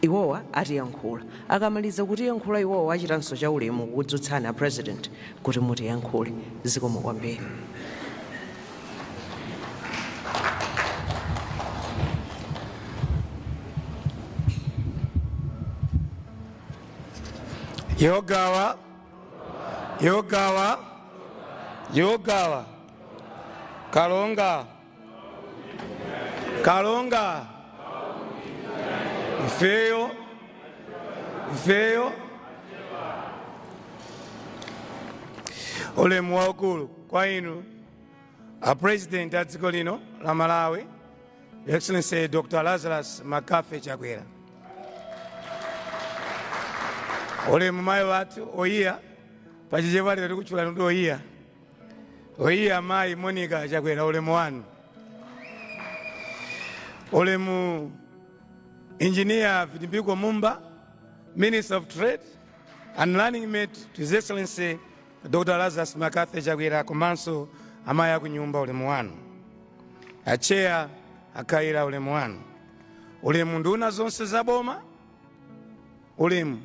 Iwowa atiyankhula. Akamaliza kutiyankhula iwowa achitanso cha ulemu kukudzutsani a president kuti mutiyankhule. Zikomo kwambiri. Yogawa, yogawa, yogawa, kalonga. kalonga ifeyo ifeyo ulemu waukulu kwa inu a president a dziko lino la malawi Your excellency dr lazarus McCarthy chakwera ulemu mayi wathu oyiya pachichewa lero tikutchula nuti oyiya Oyiya amayi Monica Chakwera ulemu wanu. Ulemu Engineer Vitumbiko Mumba, Minister of Trade and Running Mate to His Excellency Dr. Lazarus McCarthy Chakwera komanso amayi akunyumba ulemu wanu. Acheya a Kayira ulemu wanu. Ulemu nduna zonse za boma. Ulemu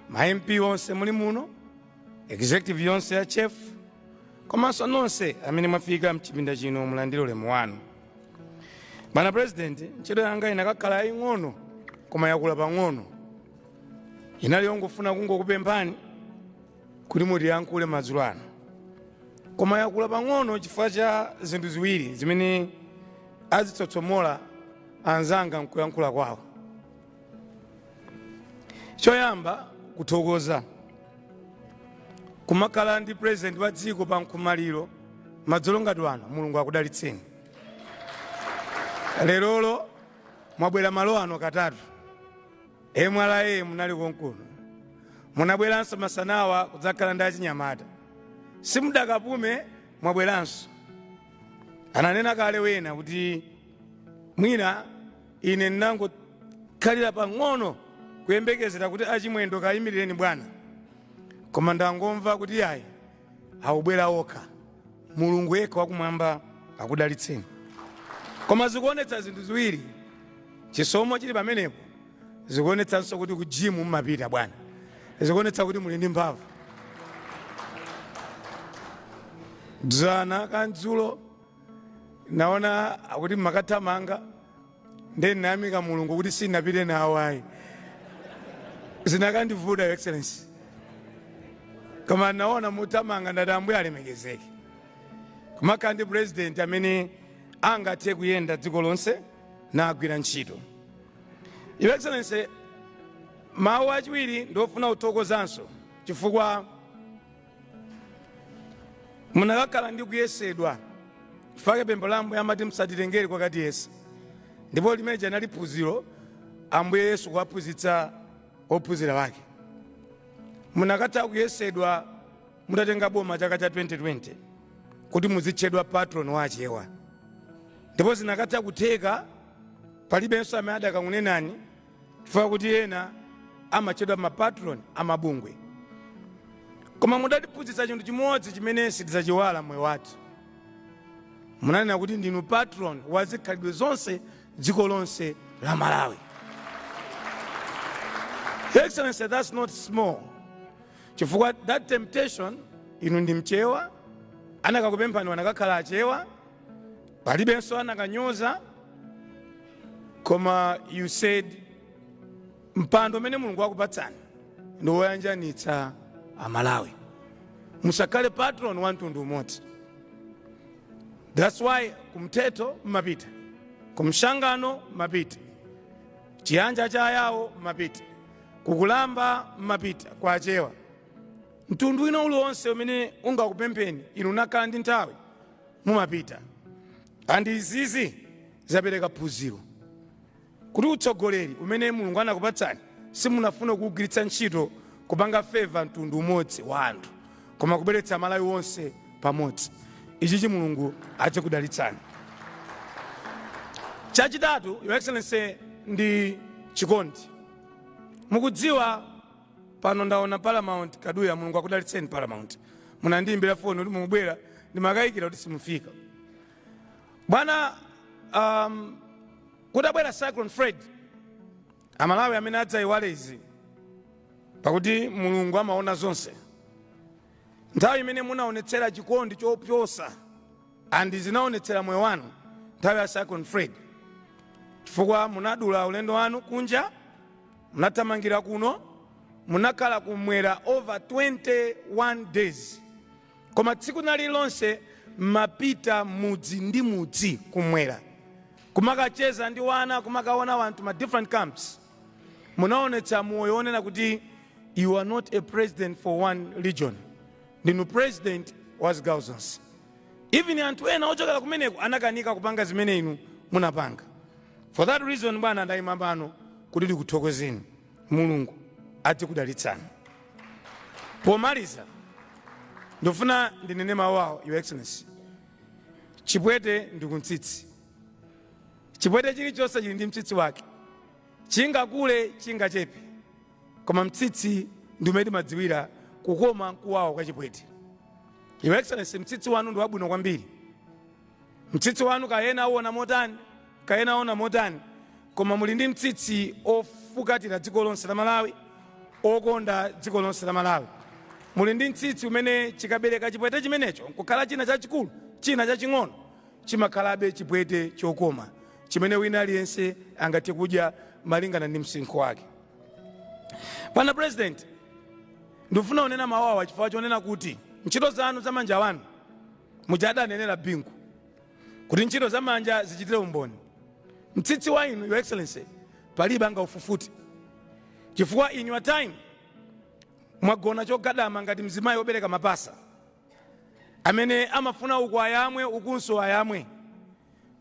ma MP onse muli muno. Executive yonse ya chef komanso nonse amene mwafika mchipinda chino mulandire ulemu wanu. Bwana President, ntchito yanga inakakhala yaying'ono koma yakula pang'ono. Inali yongofuna kungokupemphani kuti mutiyankhule madzulo ano. Koma yakula pang'ono chifukwa cha zinthu ziwiri zimene azitsotsomola anzanga m'kuyankhula kwawo. choyamba kuthokoza kumakhala ndi president wa dziko pa nkhomaliro madzulo ngati ano mulungu akudalitseni lerolo mwabwera malo ano katatu mra munali konkuno munabweranso masanawa kudzakhala ndi achinyamata simudakapume mwabweranso ananena kale wena kuti mwina Ine ndinangokhalira pang'ono kuyembekezera kuti a Chimwendo kayimirireni bwana, koma ndangomva kuti yayi akubwera okha. Mulungu yekha wakumwamba akudalitseni. Koma zikuonetsa zinthu ziwiri, chisomo chili pamenepo, zikuonetsanso kuti ku gym mumapita bwana, zikuonetsa kuti muli ndi mphamvu. Dzana kandzulo naona akuti mmakathamanga nde ndinayamika mulungu kuti sinapite nawo ayi zinakandivuta Your Excellency koma naona muthamanga ndati ambuye alemekezeke kumakhala ndi president amene angathe kuyenda dziko lonse nagwira ntchito Your Excellency mawu achiwiri ndiofuna kuthokozanso chifukwa munakakhala ndi kuyesedwa chifukwa pempho la ambuye amati musatitengere kokatiyesa ndipo limene lija linali phunziro ambuye yesu kuwaphunzitsa ophunzira wake munakatha kuyesedwa mutatenga boma chaka cha 2020 kuti muzitchedwa patron wa achewa ndipo zinakatha kutheka palibenso amene adakangunenani chifukwa kuti ena amatchedwa mapatron a mabungwe koma mudatiphunzitsa chinthu chimodzi chimene sitidzachiiwala mmoyo wathu munanena kuti ndinu patron wa zikhalidwe zonse dziko lonse la malawi Your Excellency that's not small chifukwa that temptation inu ndi mchewa anakakupemphani wanakakhala achewa palibenso anakanyoza koma you said mpando umene mulungu wakupatsani ndi woyanjanitsa amalawi musakhale patron wa mtundu umodzi that's why kumthetho mmapita kumshangano mmapita chiyanja cha ayawo mmapita kukulamba mmapita kwa achewa mtundu wina uliwonse umene ungakupempheni inu mukakhala ndi nthawi mumapita and izizi zapereka phunziro kuti utsogoleri umene mulungu anakupatsani simunafuna kuwugwiritsa ntchito kupanga favor mtundu umodzi wa anthu koma kubweretsa malawi wonse pamodzi ichichi mulungu adzikudalitsani chachitatu Your Excellency ndi chikondi mukudziwa pano ndaona paramount kaduya mulungu akudalitseni paramount munandiyimbira foni kuti mukubwera ndimakayikira kuti simufika bwana kutabwera cyclone fred amalawi amene adzayiwale izi pakuti mulungu amaona zonse nthawi imene munaonetsera chikondi chopyoza and zinaonetsera moyo wanu nthawi ya cyclone Freddy chifukwa munadula ulendo wanu kunja Munathamangira kuno munakhala kumwera over 21 days koma tsiku lililonse mmapita mudzi ndi mudzi kumwera kumakacheza ndi wana kumakaona wanthu ma different camps munaonetsa moyo wonena kuti you are not a president for one region ndinu president wa zigawo zonse even anthu ena ochokera kumeneko anakanika kupanga zimene inu munapanga For that reason bwana ndayima pano kuti ndikuthokozeni mulungu adzikudalitsani pomaliza ndifuna ndinene mawu awa your excellency chipwete ndi kumtsitsi chipwete chilichonse chili ndi mtsitsi wake chingakule chingachepe koma mtsitsi ndi umene timadziwira kukoma nkuwawa kwa chipwete your excellency mtsitsi wanu ndi wabwino kwambiri Mtsitsi wanu kaya ena auona motani, kaya ena aona motani, koma muli ndi mtsitsi ofukatira dziko lonse la Malawi, okonda dziko lonse la Malawi. Muli ndi mtsitsi umene chikabereka chipwete chimenecho kukhala china chachikulu, china chaching'ono, chimakhalabe chipwete chokoma chimene wina aliyense angathe kudya malingana ndi msinkhu wake. Bwana Purezidenti, ndikufuna kunena mawu awa chifukwa chonena kuti ntchito zanu za manja anu, Muja adanenera Bingu kuti ntchito za manja zichitire umboni. Mtsitsi wa inu, Your Excellency, palibe angaufufute chifukwa in your time mwagona chogadama ngati mzimayi wobereka mapasa amene amafuna uku ayamwe ukunso ayamwe.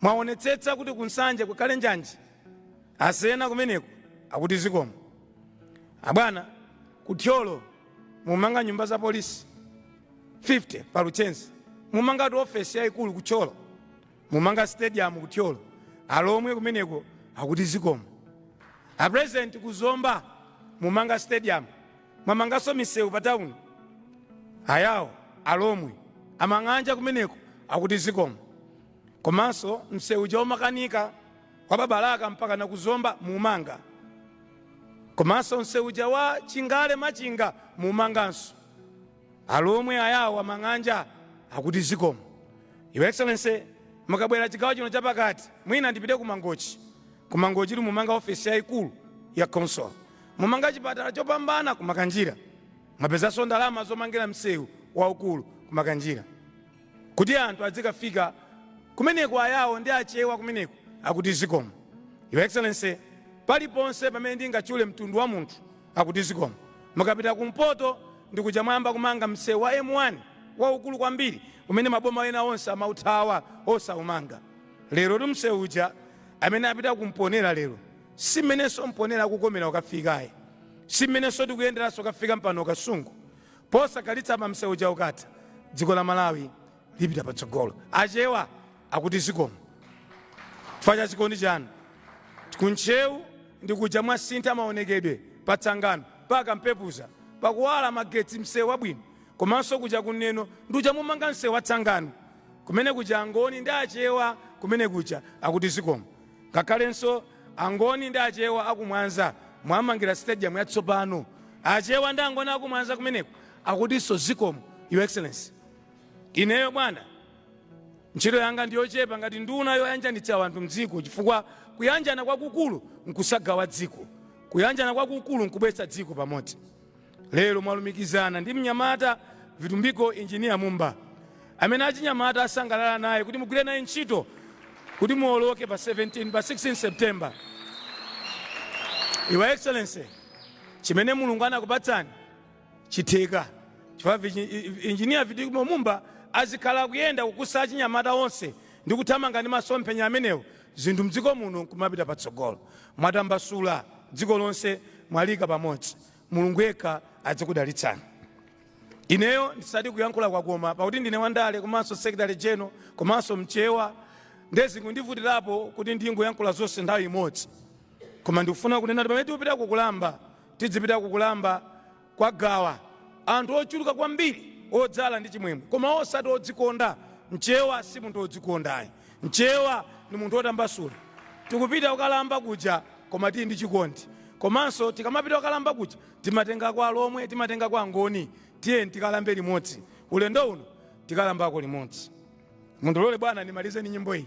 Mwaonetsetsa kuti kunsanje kukhale njanji asena kumeneko akuti zikomo abwana ku Thyolo mumanga nyumba za polisi 50 pa luchenza mumangatu ofesi yayikulu ku thyolo mumanga stadium ku thyolo alomwe kumeneko akuti zikomo a president ku zomba mumanga stadium mwamanganso misewu pa tawuni ayawo alomwe amang'anja kumeneko akuti zikomo komanso msewu uja umakanika wa pa Balaka mpaka na ku Zomba muumanga, komanso msewu uja wa Chingale-Machinga muumanganso. Alomwe, Ayao, Amang'anja akuti zikomo. Your Excellency, mukabwera chigawo chino chapakati, mwina ndipite ku Mangochi. Ku Mangochi tu mumanga ofesi yaikulu ya council, mumanga chipatala chopambana ku Makanjira, mwapezanso ndalama zomangira msewu waukulu ku Makanjira. kuti anthu adzikafika kumeneko ayao ndi achewa kumeneko akuti zikomo your excellency paliponse pamene ndingatchule mtundu wa munthu akuti zikomo mukapita kumpoto ndikuja mwayamba kumanga msewu wa m1 waukulu kwambiri umene maboma ena onse amauthawa osaumanga lerotu msewu uja amene apita ku mponela lero si mmenenso mponela kukomera ukafikaye si mmenenso tikuyenderanso ukafika mpano kasungu Posakhalitsapa msewu uja ukatha, dziko la Malawi lipita patsogolo. Achewa akuti zikomo chifukwa cha chikondi chanu. Ku Ntcheu ndi kuja mwasintha maonekedwe pa Tsangano pa Kampepuza pakuwala magetsi msewu wabwino. Komanso kuja ku Neno ndi kuja mumanga msewu wa Tsangano. Kumene kuja Angoni ndi Achewa kumene kuja akuti zikomo. Ngakhalenso angoni ndi achewa aku mwanza mwamangira stadium yatsopano achewa ndi angoni aku mwanza kumeneko akutinso zikomo your excellency. Ineyo bwana ntchito yanga ndiyochepa ngati nduna yoyanjanitsa wanthu mdziko chifukwa kuyanjana kwakukulu nkusagawa dziko. Kuyanjana kwakukulu nkubweretsa dziko pamodzi. Lero mwalumikizana ndi mnyamata Vitumbiko Engineer Mumba amene achinyamata asangalala naye kuti mugwire naye ntchito kuti muwoloke pa 17 pa 16 September. Your Excellency, chimene Mulungu anakupatsani chitheka chifukwa vichi- i- i- Engineer Vitumbiko Mumba azikhala akuyenda kukusa achinyamata onse ndi kuthamanga ndi masomphenya amenewo zinthu mdziko muno nkumapita patsogolo. Mwatambasula dziko lonse mwaliika pamodzi. Mulungu yekha adzikudalitsani. Ineyo ndisati kuyankhula kwakoma pakuti ndine wandale komanso secretary general komanso mchewa nde zikundivutirapo kuti ndingoyankhula zonse nthawi imodzi koma ndikufuna kunena kuti pamene tikupita ku Kulamba tidzipita ku Kulamba kwa Gawa anthu ochuluka kwambiri odzala ndi chimwemwe koma osati odzikonda. Mchewa si munthu odzikonda ayi. Mchewa ndi munthu otambasula. Tikupita kukalamba kuja koma tili ndi chikondi. Komanso tikamapita kukalamba kuja timatengako Alomwe, timatengako Angoni. Tiyeni tikalambe limodzi. Ulendo uno tikalambako limodzi. Mundilole bwana ndimalize ndi nyimbo iyi.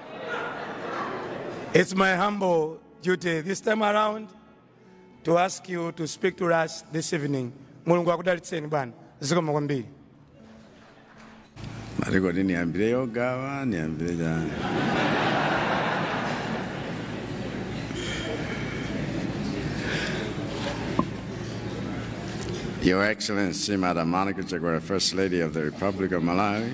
It's my humble duty this time around to ask you to speak to us this evening. Mulungu akudalitseni bwana. Zikomo kwambiri. Malikoti niyambire yo Gawa niyambire chani Your Excellency, Madam Monica Chakwera, First Lady of the Republic of Malawi,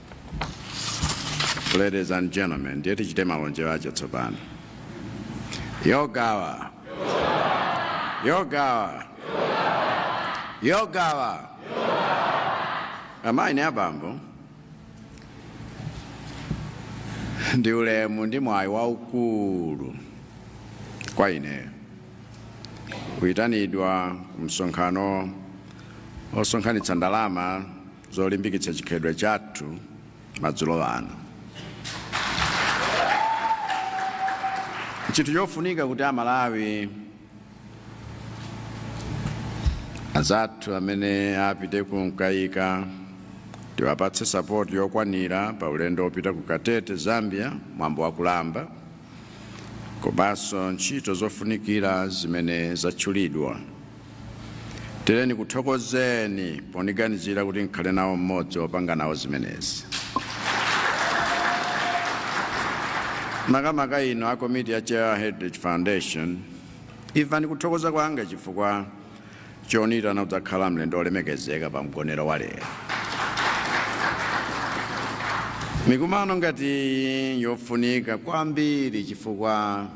Ladies and gentlemen, ndiye tichite malonje wacho tsopano. Yogawa. Yogawa. Yogawa. Amayi ni abambo. Ndi ulemu ndi mwayi waukulu kwa ine. Kuyitanidwa ku msonkhano osonkhanitsa ndalama zolimbikitsa chikhalidwe chathu madzulo ano. N'chinthu chofunika kuti Amalawi anzathu amene apite ku Mkaika tiwapatse sapoti yokwanira pa ulendo wopita ku Katete, Zambia, mwambo wa Kulamba, komanso ntchito zofunikira zimene zatchulidwa. Teleni nikuthokozeni poniganizira kuti nkhale nawo m'modzi opanga nawo zimenezi. Makamaka inu a komiti ya Chewa Heritage Foundation, imvani kuthokoza kwanga chifukwa choniitana kudzakhala mlendo olemekezeka pa mgonero wa lero. Mikumano ngati iyi njofunika kwambiri chifukwa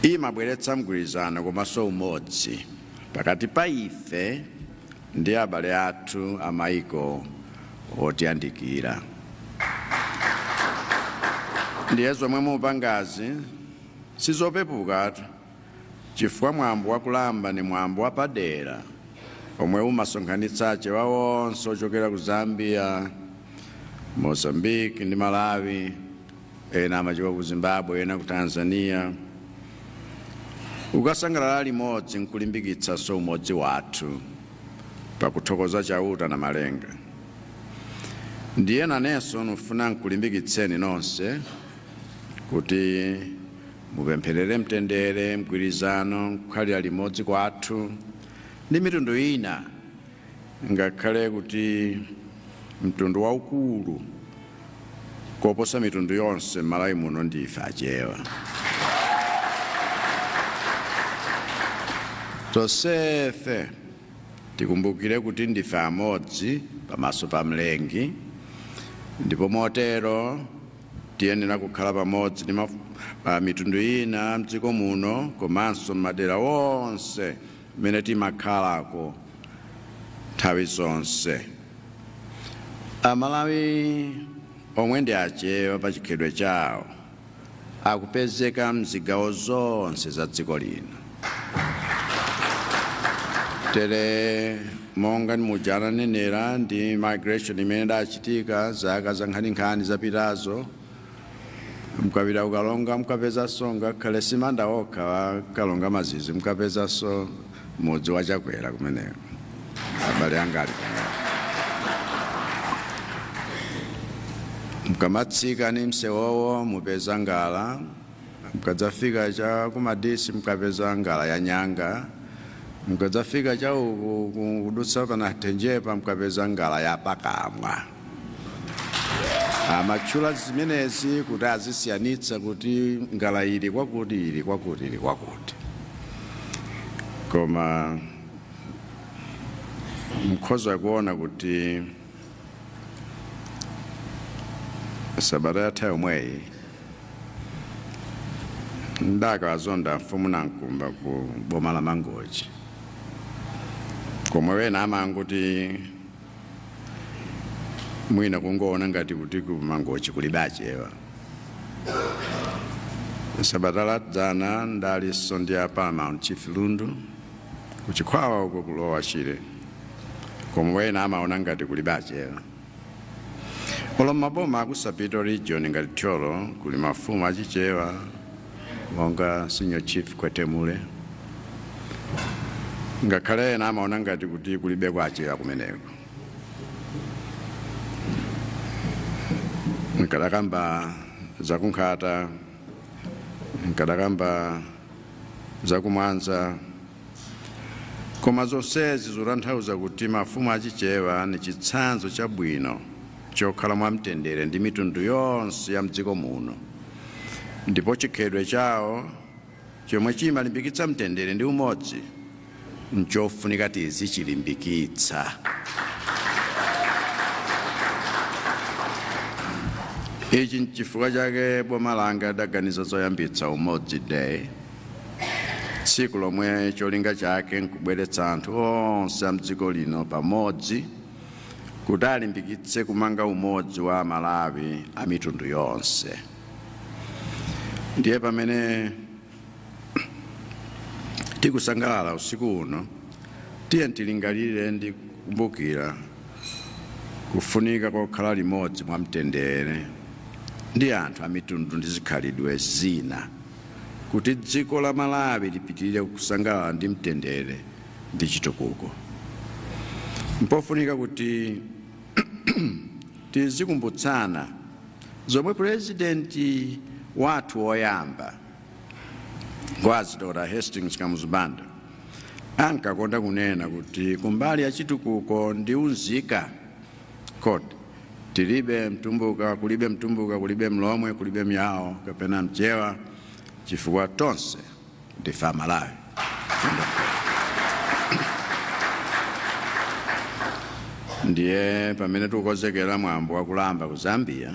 imabweretsa mgwirizano komanso umodzi pakati pa ife ndi abale athu a maiko otiyandikira ndiye zomwe mukupangazi sizopepuka chifukwa mwambo wakulamba ni mwambo wapadera omwe umasonkhanitsa achewa onse ochokera ku zambia mozambique ndi malawi ena amachokera ku zimbabwe ena ku tanzania kukasangalala limodzi nkulimbikitsanso umodzi wathu pakuthokoza chauta namalenga ndiye nanenso nifuna nkulimbikitseni nonse kuti mupempherere mtendere mgwirizano nkukhalira limodzi kwathu ndi mitundu ina Ngakhale kuti mtundu waukulu koposa mitundu yonse m'Malawi muno ndi ife Achewa, tonsefe tikumbukire kuti ndife amodzi pamaso pa Mlengi ndipo motero tiyenera kukhala pamodzi ndi mitundu ina m'dziko muno komanso m'madera onse mmene timakhalako nthawi zonse. Amalawi omwe ndi achewa pa chikhalidwe chawo akupezeka m'zigawo zonse za dziko lino. Tere monga umuja ananenera ndi migration imene idachitika zaka zankhaninkhani zapitazo, mukapita kukalonga mukapezanso ngakhale simanda okha a kalonga mazizi mukapezanso mudzi wa chakwera kumeneko abale anga ali mukamatsika ni msewowo mupeza ngala mukadzafika cha kumadisi mukapeza ngala ya nyanga mukadzafika cha uku kudutsa pa nathenjepa mukapeza ngala ya pakamwa amatchula zimenezi kuti azisiyanitsa kuti ngala ili kwakuti ili kwakuti ili kwakuti koma mkhoza kuona kuti sabata yatha yomweyi ndakaazonda mfumu nankumba ku boma la mangochi komwe wena amangoti mwina kungoona ngati kuti kumangochi kulibe achewa sabata ladzana ndalinso ndi a paramount chief lundu kuchikhwawa uko ku lower shire komwe ena amaona ngati kulibe achewa olo mmaboma aku southern region ngati thyolo kuli mafumu achichewa monga senior chief khwethemule ngakhale ena amaona ngati kuti kulibeko achewa kumeneko nkadakamba zakunkhata nkadakamba zakumwanza koma zonsezi zotanthauza kuti mafumu achichewa ni chitsanzo chabwino chokhala mwamtendere ndi mitundu yonse ya mdziko muno ndipo chikhalidwe chawo chomwe chimalimbikitsa mtendere ndi umodzi nchofunika tizichilimbikitsa. Ichi nchifukwa chake boma langa lidaganiza zoyambitsa Umodzi Day, tsiku lomwe cholinga chake nkubweretsa anthu onse a mdziko lino pamodzi kuti alimbikitse kumanga umodzi wa amalawi a mitundu yonse ndiye pamene tikusangalala usiku uno tiyeni tilingalire ndi kukumbukira kufunika kokhala limodzi mwa mtendere ndi anthu a mitundu ndi zikhalidwe zina kuti dziko la malawi lipitirire kusangalala ndi mtendere ndi chitukuko. Mpofunika kuti tizikumbutsana zomwe pulezidenti wathu woyamba Ngwazi Dr. Hastings Kamuzu Banda ankakonda kunena kuti kumbali ya chitukuko ndi unzika kuti tilibe mtumbuka kulibe mtumbuka kulibe mlomwe kulibe myawo kapena mchewa chifukwa tonse Ndife Amalawi. Ndiye pamene tikukonzekera mwambo wa kulamba ku Zambia,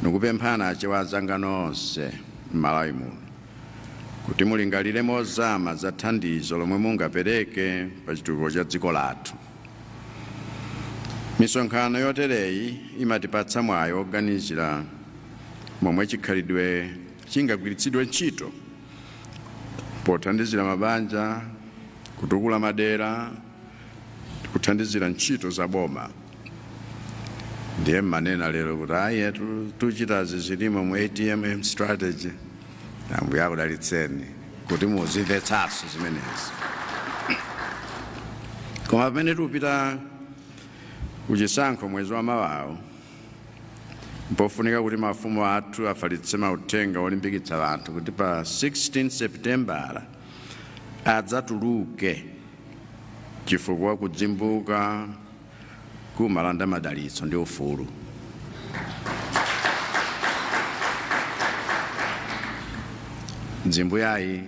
nikupemphana achewa anzanga onse m'Malawi muno kuti mulingalire mozama za thandizo lomwe mungapereke pa chitukuko cha dziko lathu. Misonkhano yotereyi imatipatsa mwayi woganizira momwe chikhalidwe chingagwiritsidwe ntchito pothandizira mabanja, kutukula madera, kuthandizira ntchito za boma. Ndiye mmene ena lero kuti ayi tu- tuchitazi zilimo mu ATM strategy. Ambuye akudalitseni kuti muzimvetsanso zimenezi. Koma pamene tupita kuchisankho mwezi wa mawawu M'pofunika kuti mafumu athu afalitse mauthenga olimbikitsa anthu kuti pa 16 Sepitembala adzatuluke chifukwa kudzimbuka kumalanda madalitso ndi ufulu. Dzimbu yayi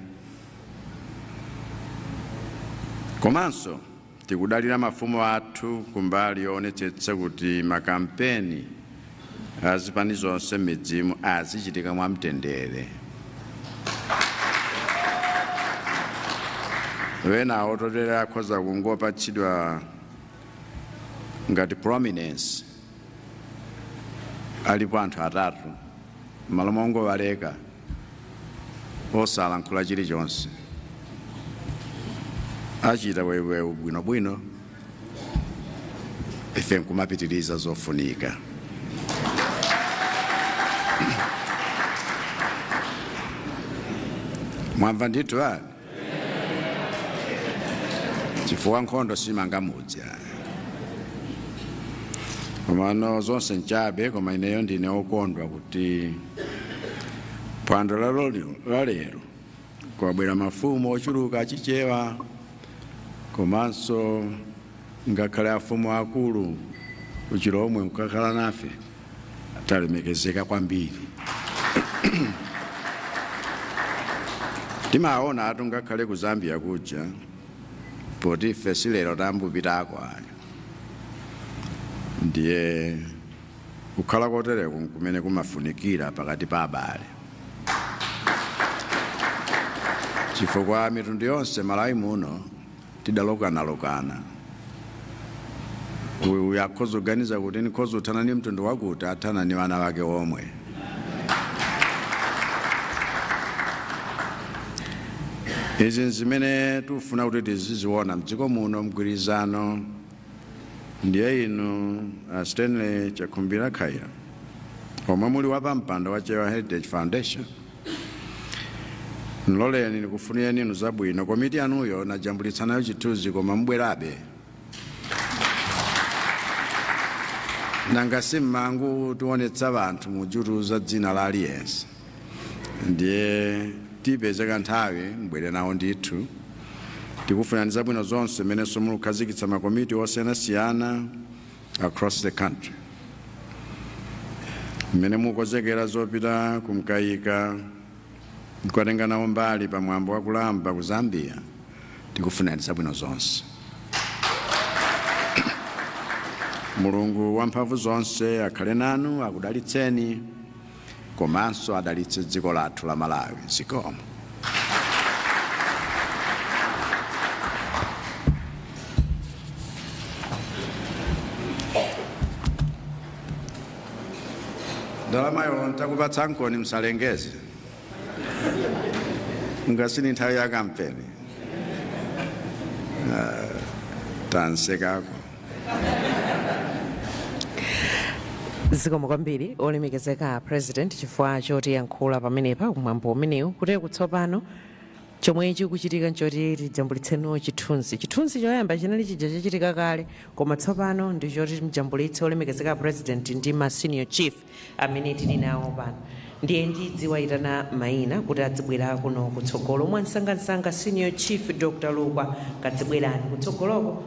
komanso Tikudalira mafumu athu kumbali yoonetsetsa kuti makampeni a zipani zonse m'midzimu azichitika mwamtendere. Ena ototerera akhoza kungopatsidwa ngati prominence alipo anthu atatu m'malo mongowaleka. osalankhula chilichonse achita weweyu bwinobwino ife nkumapitiriza zofunika mwamva ndithu ani chifukwa nkhondo simanga mudzi ayi komano zonse nchabe koma ineyo ndine okondwa kuti phwando la lolilo- la lero kwabwera mafumu ochuluka achichewa komanso ngakhale afumu akulu kuchilomwe mkakhala nafe talemekezeka kwambiri timaonatu ngakhale ku zambia kuja poti ife silero tambupitako ayo ndiye kukhala kotereko nkumene kumafunikira pakati pa abale chifukwa mitundu yonse malawi muno tidalokanalokana uyu akhoza kuganiza kuti ndikhoza kuthana ni mtundu wakuti athana ni wana wake omwe izi nzimene tikufuna kuti tiziziona mdziko muno mgwirizano ndiye inu uh, stanley chakhumbira khaila omwe muli wapampando wa chewa heritage foundation nloleni nikufunireni inu zabwino komiti yanuyo najambulitsa nayo chithunzi koma mbwerabe nanga si mmangotionetsa wanthu mujutu za dzina la aliyense ndiye tipezeka nthawi mbwere nawo ndithu tikufunirani zabwino zonse mmenenso mulukhazikitsa makomiti osiyanasiyana across the country. Mmene mukonzekera zopita ku Mkaika nkukatenga nawo mbali pa mwambo wa Kulamba ku Zambia tikufunirani zabwino zonse. Mulungu wamphamvu zonse akhale nanu akudalitseni. komanso adalitse dziko lathu la Malawi. Zikomo. Ndalamayo ntakupatsankoni msalengeze nga si ni nthawi ya kampeni Ah, tansekako zikomo kwambiri olemekezeka president chifukwa chotiyankhula pamenepa kumwambo umenewu koteroko tsopano chomwe chikuchitika nchoti tijambulitseno chithunzi chithunzi choyamba chinali chija chachitika kale koma tsopano ndichoti mjambulitse olemekezeka president ndi ma senior chief amene tili nawo pano ndiye ndidziwaitana maina kuti adzibwera kuno kutsogolo mwansangansanga senior chief dr lukwa kadzibwerani kutsogoloko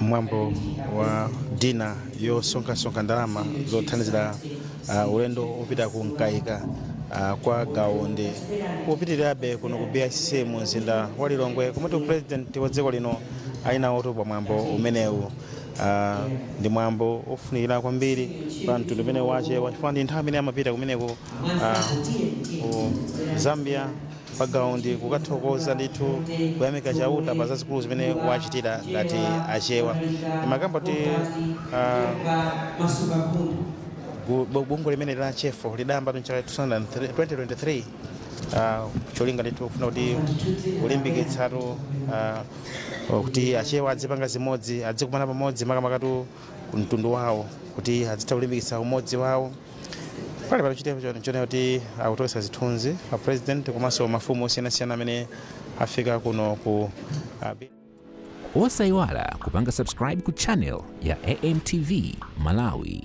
mwambo wa dinner yosonkhasonkha ndalama zothandizira uh, ulendo wopita ku mkaika uh, kwa gawa undi ukupitirirabe kuno ku bicc mu mzinda wa lilongwe komatu purezidenti wa dziko lino ali nawotu pa mwambo umenewu Ah, ndi mwambo ofunikira kwambiri pa mtundu umene wa achewa chifukwa ndi nthawi imene amapita kumeneko ah, ku zambia pa gawa undi kukathokoza ndithu kuyamika chauta pa zazikulu zimene wachitira ngati achewa timakamba kuti ah, gu- bu- bungwe limene la chefo lidayamba mchaka 2023 ah, cholinga ndithu kufuna kuti kulimbikitsatu ah, Or kuti achewa adzipanga zimodzi adzikumana pamodzi makamakatu mtundu wawo kuti adzitha kulimbikitsa umodzi wawo pali pano tikuona kuti akutoletsa zithunzi a president komanso mafumu osiyanasiyana amene afika kuno ku ah, bi- osayiwala kupanga subscribe ku channel ya amtv malawi